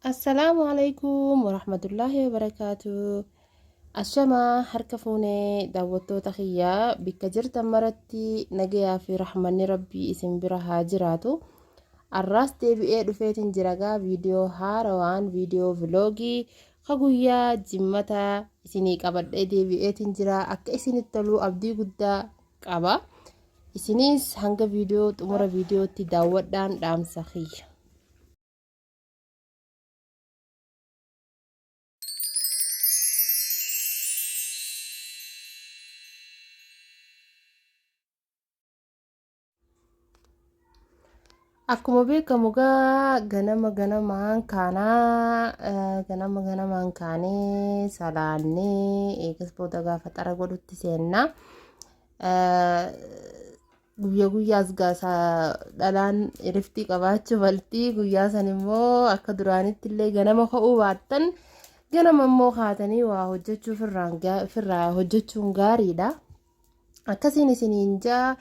Assalaamu alaikum warahmatullaahi wabarakaatu. Ashamaa harka fuunee daawwattoota kiyyaa bikka jirtan maratti nagayaa fi rahmanni rabbii isin bira haa jiraatu. Arraas deebi'ee dhufeetiin jiragaa viidiyoo haarawaan viidiyoo viloogii ka guyyaa jimmata isinii qabadhee deebi'eetiin jira akka isinitti toluu abdii guddaa qaba. Isiniis hanga viidiyoo xumura viidiyootti daawwadhaan dhaamsa kiyya. Akkuma beekamu gaa ganama ganamaan kaanaa eh, ganama ganamaan kaanee salaannee eegas booda gaafa xara godhutti seennaa. Eh, Guyya guyyaas gaasa dhalaan iriftii qabaachuu malti. Guyyaa san immoo akka duraanitti illee ganama ka'uu baattan ganama immoo kaatanii waa hojjechuu firraan gaa- firraa hojjechuun gaariidha. Akkasiin isiniin jaa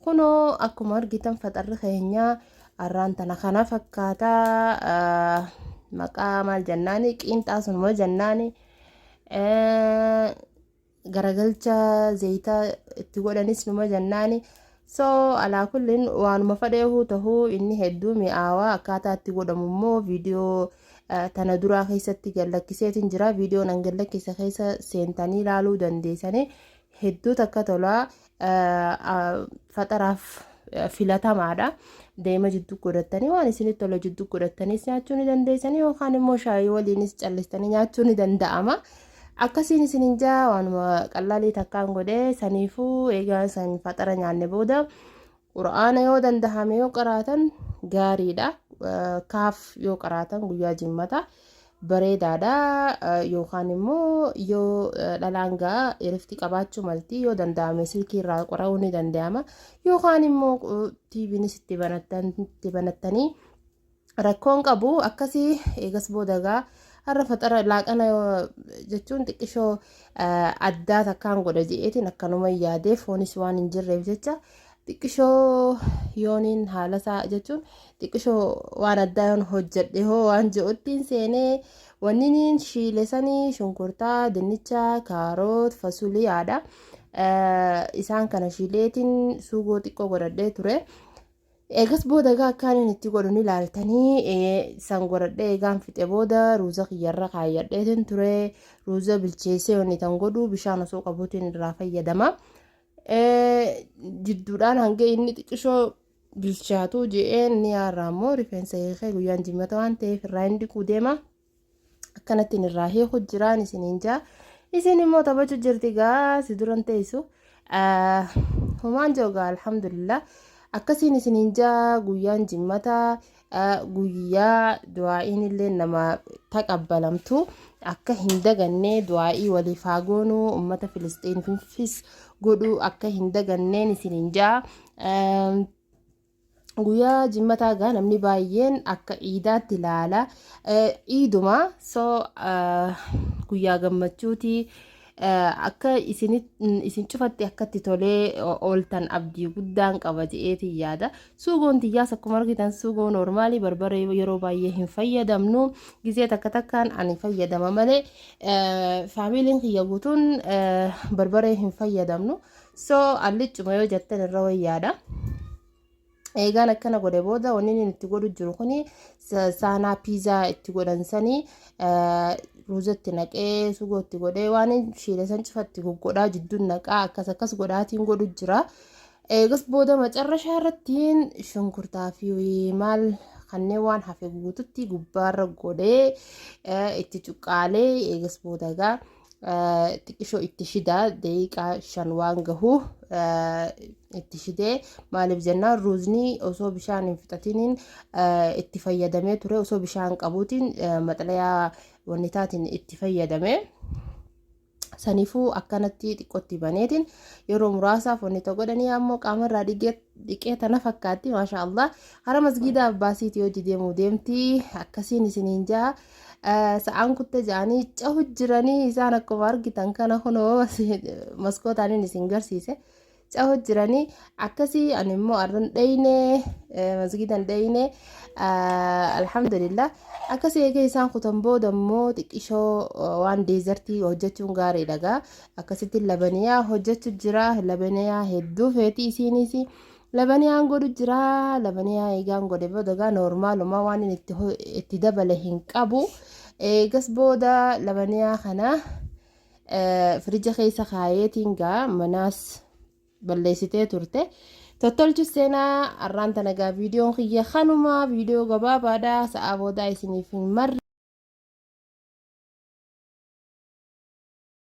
kunoo akkuma argitan faxarri keenya arraan tana kana fakkaata ah, maqaa maal jennaani qiinxaa sunuma jennaani. Eh, garagalcha zayita itti godhanis numa jannaani so alaa kullin waanuma fadheehuu tahuu inni hedduu mi'aawaa akkaataa itti godhamu immoo viidiyoo eh, tana duraa keessatti gallakkiseetiin jira viidiyoon an gallakkise keessa seentanii ilaaluu dandeessanii hedduu takka tolaa faxaraaf filatamaadha. Deema jidduu godhattanii waan isinitti tola jidduu godhattaniis nyaachuu ni dandeessanii yookaan immoo shaayii waliinis callistanii nyaachuu ni danda'ama. Akkasiin isin hin jaa waanuma qallaalii takkaan godhee saniifuu eegaa san faxara nyaanne booda Qur'aana yoo dandahame yoo qaraatan gaariidha. Kaaf yoo qaraatan guyyaa jimmata bareedaadha. Yookaan immoo yoo dhalaan ga'a irifti qabaachuu malti yoo dandahame silkii irraa qora'uu ni danda'ama. Yookaan immoo tiiviinis itti banattan itti banattanii rakkoon qabu akkasii eegas boodagaa har'a faxara laaqana jechuun xiqqishoo addaa takkaan godha je'eetiin akkanuma yaadee foonis waan hin jirreef jecha xiqqishoo yooniin haalasaa jechuun xiqqishoo waan addaa yoon hojjedhe hoo waan je'uttiin seenee wanniniin shiile sanii shunkurtaa dinnichaa kaaroot fasuliyaadha isaan kana shiileetiin suugoo xiqqoo godhadhee ture. Eegas booda egaa akkaan inni itti godhu ni laaltanii san godhadhee egaan fixe booda ruuza kiyyarra kaayyadheetiin ture ruuza bilcheessee wanni tan godhu bishaan osoo qabuutiin irraa fayyadama. Jidduudhaan hanga inni xiqqishoo bilchaatu je'een ni yaarraa immoo rifeensa hiikee guyyaan jimmata waan ta'eef irraa hin dhiquu deema. akkanattiin irraa hiiku jiraan isiniin jaa isin immoo taphachu jirti gaa si duran teessu humaan joogaa alhamdulillah akkasiin isiniin jaa guyyaan jimmataa guyyaa du'aa'iin illee nama taqabbalamtu akka hin daganne du'aa'ii waliif haa goonu ummata filisxiinfis godhu akka hin daganneen isiniin jaa Guyyaa jimmataa gaa namni baay'een akka iidaatti ilaala. Iiduma so guyyaa gammachuuti. Akka isin cufatti akkatti tolee ooltan abdii guddaan qaba je'eetiin yaada. Suugoon tiyyaas akkuma argitan suugoo noormaalii barbaree yeroo baay'ee hin fayyadamnu. Gizee takka takkaan ani fayyadama malee faamiiliin kiyya guutuun barbaree hin fayyadamnu. So allichuma yoo jettan irra wayyaadha. Eegaan akkana godhe booda wanni inni itti godhu jiru kun saanaa piizaa itti godhan sanii ruuzatti naqee sugoo itti godhee waan shiile san cufatti goggodhaa jidduun naqaa akkas akkas godhaatiin godhu jira. Eegas booda macarrashaa irrattiin shunkurtaa fi maal kanneen waan hafe guututti gubbaarra godhee itti cuqqaalee eegas booda egaa xiqqishoo itti shidaa daqiiqaa shan waan gahu itti shidee maaliif jennaan ruuzni osoo bishaan hin fixatiniin itti fayyadamee ture osoo bishaan qabuutiin maxalayaa wannitaatiin itti fayyadame. Saniifuu akkanatti xiqqootti baneetiin yeroo muraasaaf wanni ta'u godhanii ammoo qaamarraa dhiqee tana fakkaatti maashaa Allah hara masgiidaa abbaasiiti hojii deemuu deemti akkasiin isiniin jaha. Sa'aan kutte ja'anii cahu jiranii isaan akkuma argitan kana kunoo maskootaanin isin garsiise. Cahu jiranii akkasii ani immoo arran dheyne masgidan dheyne alhamdulillah akkasii eegee isaan kutan booda immoo xiqqishoo waan deezartii hojjechuun gaarii dhagaa akkasitti labaniyaa hojjechu jira labaniyaa hedduu feetii isiiniisi. Labaniyaan godhu jira labaniyaa eegaan godhe booda gaa noormaalumaa waan inni itti ho- itti dabale hin qabu eegas booda labaniyaa kana eh, firija keessa kaayeetiin gaa manaas balleessitee turte tottolchu seenaa arraan tana gaa viidiyoon kiyya kanuma viidiyoo gabaabaadha sa'aa boodaa isiniif hin marre